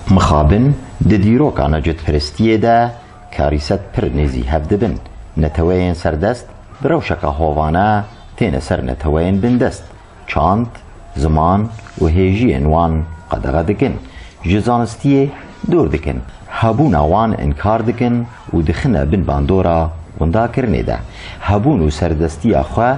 Mixabin di dîroka necetperestiyê de karîset pir nêzî hev dibin. Neteweyên serdest bi rewşeke hovane têne ser neteweyên bindest, çand, ziman û hêjiyên wan qedexe dikin, ji zanistiyê dûr dikin, hebûna wan inkar dikin û dixine bin bandora windakirinê de. Hebûn û serdestiya xwe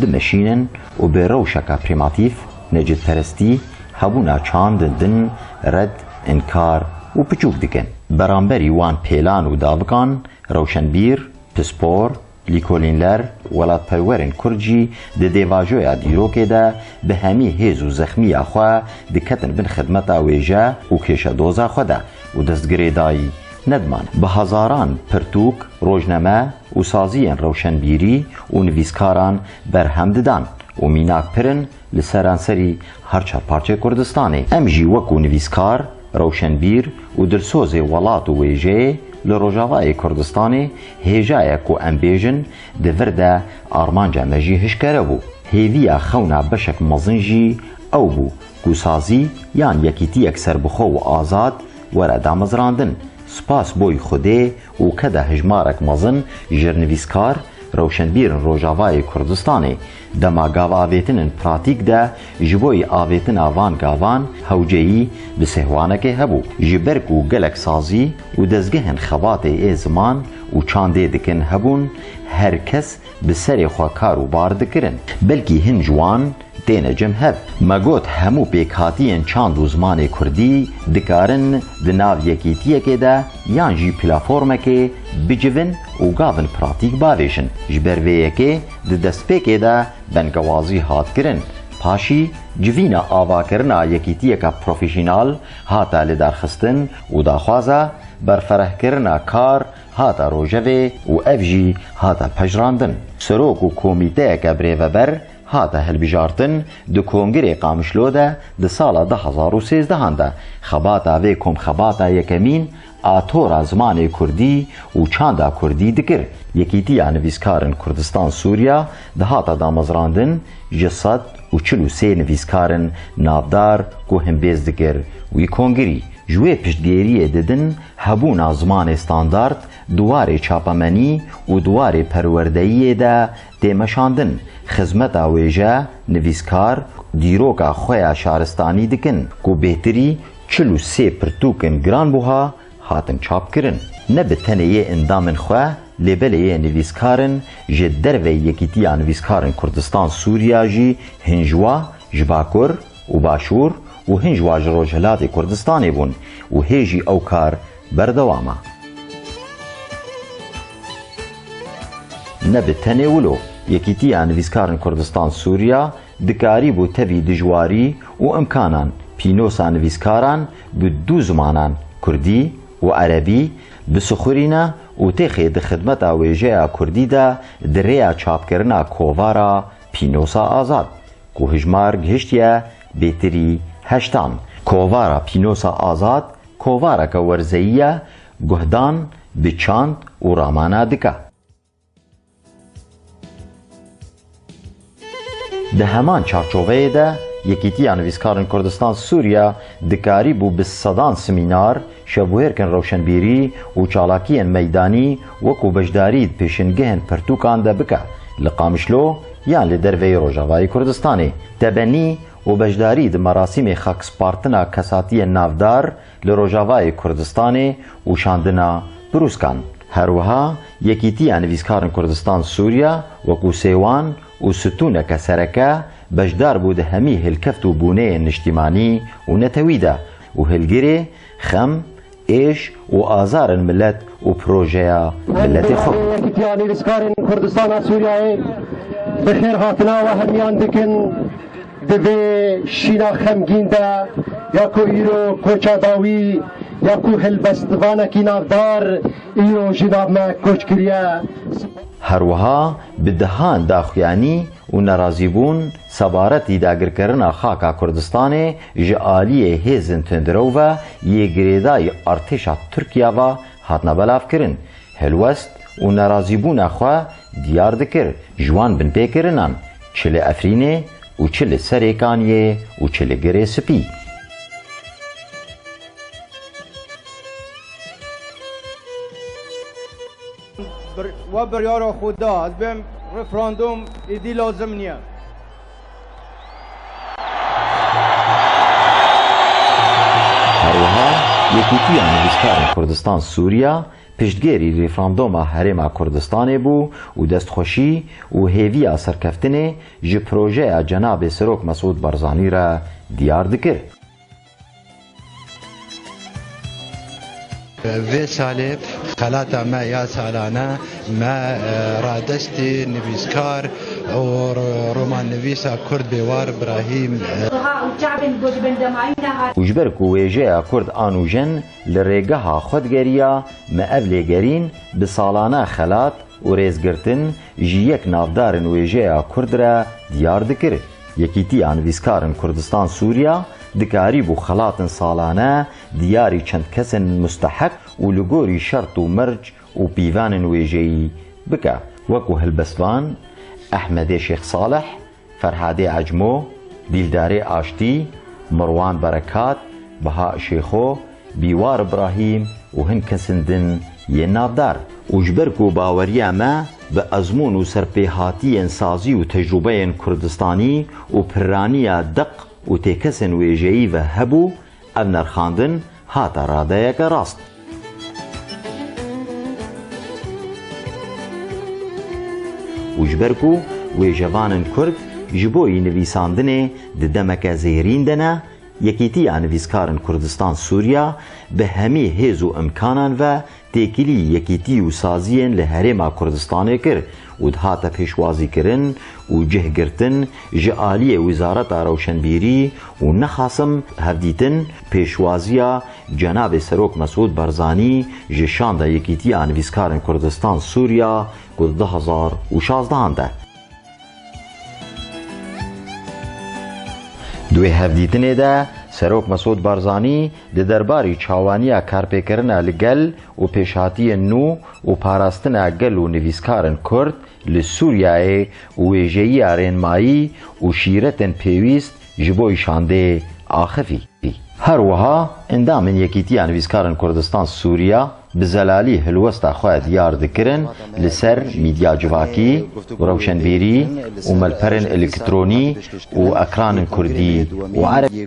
dimeşînin û bi rewşeke prîmatîf, Necdperestî, hebûna çand, din, red, inkar û piçûk dikin. Beramberî wan pêlan û davikan, rewşenbîr, pispor, lîkolînler, welatperwerên kurd jî di dêvajoya dîrokê de bi hemî hêz û zexmîya xwe diketin bin xidmeta wêje û kêşedoza xwe de û destgirê dayî nedimane. Bi hezaran pirtûk, rojname û saziyên rewşenbîrî û nivîskaran berhem didan û mînak pirin li seranserî her çar parçeyê Kurdistanê. Em jî wekû nivîskar, rewşenbîr û dilsozê welat û wêjeyê li Rojavayê Kurdistanê hêjayek ku em bêjin di vir de armanca me jî hişkere bû. Hêviya xewna beşek mezin jî ew bû ku sazî yan yekîtiyek serbixwe û azad were damezrandin. Spas boy Xwedê û ke de hijmarek mezin jirnivîskar, rewşenbîr in Rojavayê Kurdistanê dema gavavêtin in pratîk de ji bo yî avêtina van gavan hewceyî bi sêhwanekê hebû. Ji ber ku gelek sazî û dezgehên xebatê ê ziman û çandê dikin hebûn, her kes bi serê xwe kar û bar dikirin. Belkî hin ji wan Têne cem hev. Me got hemû pêkhatiyên çand û zimanê kurdî dikarin di nav yekîtiyekê de yan jî plaformekê bicivin û gavin pratîk bavêjin. Ji ber vê yekê di destpêkê de bengewazî hat kirin. Paşî civîna avakirina yekîtiyeka profesyonal hate lidarxistin û daxwaza berferehkirina kar hate rojevê û ev jî hate pejirandin. Serok û komîteyeke birêveber Hate hilbijartin, di Kongirê Qamişlo de di sala du hezar û sêzdeh de xebata vê komxebata yekemîn a tora zimanê kurdî û çanda kurdî dikir, Yekîtiya Nivîskarin Kurdistan-Sûriya dihata damezrandin, ji sed û çil û sê nivîskarin navdar ku himbêz dikir wî kongirî, ji wê piştgêriyê didin hebûna zimanê standard di warê çapemenî û di warê perwerdeyiyê de Tê meşandin, xizmeta wêje, nivîskar, dîroka xwe ya şaristanî dikin ku bêhtirî çil û sê pirtûkên giranbuha hatin çapkirin. Ne bi tenê yê endamên xwe lê belê yê nivîskarin ji derveyî Yekîtiya Nivîskarin Kurdistan-Sûriya jî hin ji wa, ji Bakur, û Başûr û hin ji wan ji Rojhilatê Kurdistanê bûn û hê jî ew kar berdewam e. Nebe tenê wilo, Yekîtiya Nivîskarên Kurdistan Sûriya dikarîbû tevî dijwarî û imkanan pînosa nivîskaran bi du zimanan kurdî û erebî bisixurîne û têxê di xidmeta wêjeya kurdî de di rêya çapkirina kovara Pînosa Azad Ku hijmar gihiştiye bêtirî heştan. Kovara Pînosa Azad kovareke werzeyî ye guhdan bi çand û ramana dike. Di heman çarçoveyê de Yekîtiya Nivîskarin Kurdistan-Sûriya dikarîbû bi sedan simînar, Şevbûyerkên rewşenbîrî û çalakiyên meydanî wekû beşdarî di pêşîngehên pirtûkan de bike, li Qamişlo yan li derveyî Rojavayê Kurdistanê, tebenî û beşdarî di merasîmê xakspartina kesatiyên navdar li Rojavayê Kurdistanê û şandina brûskan. Her wiha Yekîtiya Nivîskarin Kurdistan Sûriya wekû sêwan û stûneke sereke beşdar bû di hemî hilkeft û bûneyên niştîmanî û netewî de, Û hilgirê xem, êş û azar in milet û projeya miletê xwe bû. Yekîtiya Nivîskarên Kurdistana Sûriyeyê bi xêrhatina we hemiyan dikin di vê şîna xemgîn de ya ku îro koça dawî ya ku hilbestvanekî navdar îro jî nav me koç kiriye. Her wiha bi dehan daxuyanî û nerazîbûn sebaretî dagirkerina xaka Kurdistanê ji aliyê hêzên tundrewî ve yê girêdayî artêşa Tirkiye ve hatine belavkirin, hilwest û nerazîbûna xwe diyar dikir ji wan binpêkirinan çi li Efrînê û çi li Serêkaniyê û çi li Girê Spî. We biryara xwe da. Ez bêm referandum êdî lazim niye. Herwiha Yekîtiya Nivîskarên Kurdistan Sûriya piştgêrî referanduma Herêma Kurdistanê bû û destxweşî û hêviya serkeftinê ji projeya Cenabê Serok Mesûd Barzanî re diyar dikir. Vê salê xelata me ya salane me radestî nivîskar û romannivîsa kurd bêwar Brahîm Û ji ber ku wêjeya kurd a nûjen li rêgeha xwe digeriya, me ev lêgerîn bi salane xelat û rêzgirtin ji yek navdarên wêjeya kurd re diyar dikir. Yekîtiya Nivîskarên Kurdistan Sûriya dikarîbû xelatên salane diyarî çend kesên musteheq û li gorî şert û merc û pîvanên wêjeyî bike, wekû helbestvan Ehmedê Şêx Saleh, Ferhadê Ecmo, Dîldarê Aştî, Mirwan Berekat, Beha Şêxo, Bîwar Ibrahîm û hin kesên din yên navdar. Û ji ber ku baweriya me bi ezmûn û serpêhatiyên sazî û tecrûbeyên kurdistanî û pirraniya deq û têkesên wêjeyî ve hebû, ev nerxandin hate radeyeke rast. Û ji ber ku wêjevanên kurd ji bo yînivîsandinê di demeke zêrîn de ne, Yekîtiya Nivîskarên Kurdistan Sûriya bi hemî hêz û imkanan ve têkilî yekîtî û saziyên li Herêma Kurdistanê kir û dihate pêşwazîkirin û cih girtin ji aliyê Wizareta Rewşenbîrî û nexasim hevdîtin pêşwaziya Cenabê Serok Mesûd Barzanî ji Şanda Yekîtiya Nivîskarên Kurdistan Sûriya ku di du hezar û şazdehan de Di wê hevdîtinê de Serok Mesûd Barzanî di derbarî çawaniya karpêkirina li gel û pêşhatiyên nû û parastina gel û nivîskarin Kurd li Sûriyeyê û wêjeyiya rênmayî û şîretên pêwîst ji bo îşandeyê axivî. Her wiha endamên Yekîtiya Nivîskarên Kurdistan Sûriya bi zelalî hilwesta xwe diyar dikirin li ser mîdya civakî, rewşenbîrî û malperên elektronî û ekranên kurdî û erebî.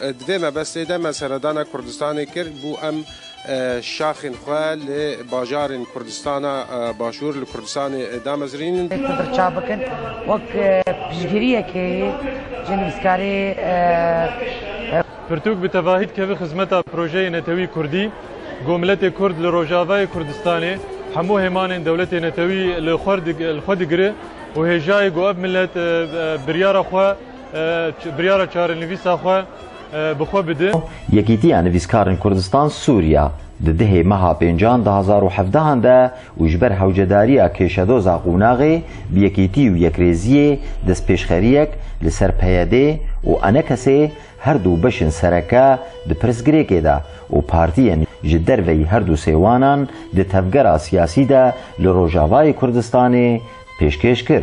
Di vê mebestê de me seredana Kurdistanê kir bû em şaxên xwe li bajarên Kurdistana Başûr li Kurdistanê damezrînin. Dê Kurd rica bikin wek piştgiriyekê yê ji nivîskarê. Pirtûk bi tevahî dikeve xizmeta projeyê netewî Kurdî ku miletê Kurd li Rojavayê Kurdistanê hemû hêmanên dewletê netewî li xwe digire û hêjayê ku ev milet biryara xwe Biryara çarenivîsa xwe bi xwe bide. Yekîtiya Nivîskarên Kurdistan Sûriya di dihê meha pêncan du hezar û hevdehan de û ji ber hewcedariya kêşedoza qonaxê bi yekîtî û yekrêziyê destpêşxeriyek li ser PYD û ANKS her du beşên sereke di pirsgirêkê de û partiyên ji derveyî her du sêwanan di tevgera siyasî de li Rojavayê Kurdistanê pêşkêş kir.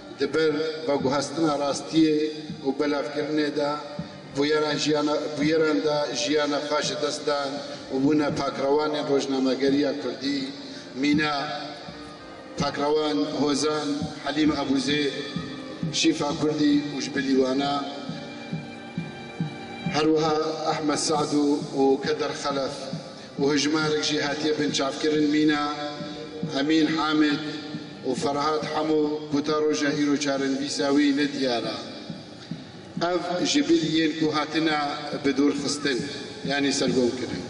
Di ber veguhestina rastiyê û belavkirinê de bûyeran jiyana bûyeran de jiyana xwe ji dest dan û bûne pakrewanên rojnamegeriya kurdî mîna pakrewan Hozan, Helîm Ebûzêd, Şîfa Kurdî û ji bilî wan e herwiha Ehmed Sadu û Keder Xelef. û hejmarek jî hatiye binçavkirin mîna Emîn Hamid û Ferhat Hemo ku ta roja îro çarenivîsa wî ne diyar e. Ev ji bil yên ku hatine bidûrxistin yanî sergom kirin.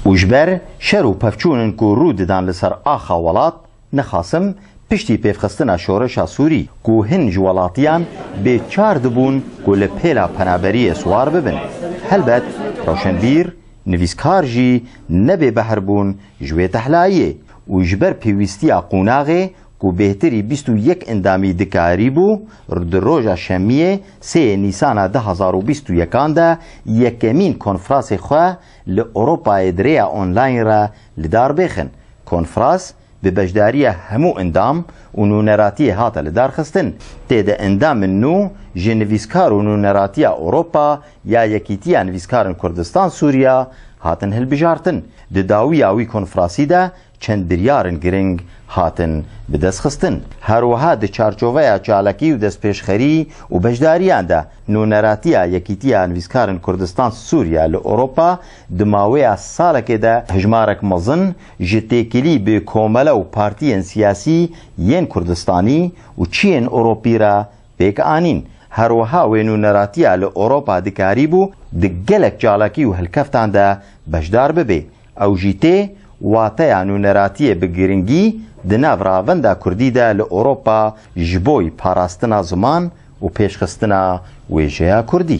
Û ji ber şer û pevçûn in ku rû didan li ser axa welat, Nixasim piştî pêvxistina şoreşa Sûrî ku hin ji welatiyan bê çar dibûn ku li pêla penaberiyê siwar bibin. Helbet roşenbîr, nivîskar jî ne bêbehr bûn ji wê tehlayê û ji ber pêwîstiya qonaxê ku bêhtirî bîst û yek endamî dikarîbû di roja şemiyê sê yê nîsana du hezar û bîst û yekan de yekemîn konfrasê xwe Li Ewropayê di rêya online re li dar bêxin. Konfras bi beşdariya hemû endam û nûneratiyê hate li dar xistin. Tê de endamên nû ji Nivîskar û Nûneratiya Ewropa ya Yekîtiya Nivîskarin Kurdistan-Sûriya hatin hilbijartin. Di dawiya wî konfrasî de Çend biryarên giring hatin bidestxistin. Her wiha di çarçoveya çalakî û destpêşxerî û beşdariyan de Nûneratiya Yekîtiya Nivîskarên Kurdistan Sûriye li Ewropa di mawêya salekê de hejmarek mezin ji têkilî bi komele û partiyên siyasî yên Kurdistanî û çiyên Ewropî re pêk anîn. Her wiha wê nûneratiya li Ewropa dikarîbû di gelek çalakî û hilkeftan de beşdar bibê. Ew jî tê wateya nûneratiyê bi giringî di nav ravenda kurdî de li Ewropa ji boy parastina ziman û pêşxistina wêjeya kurdî.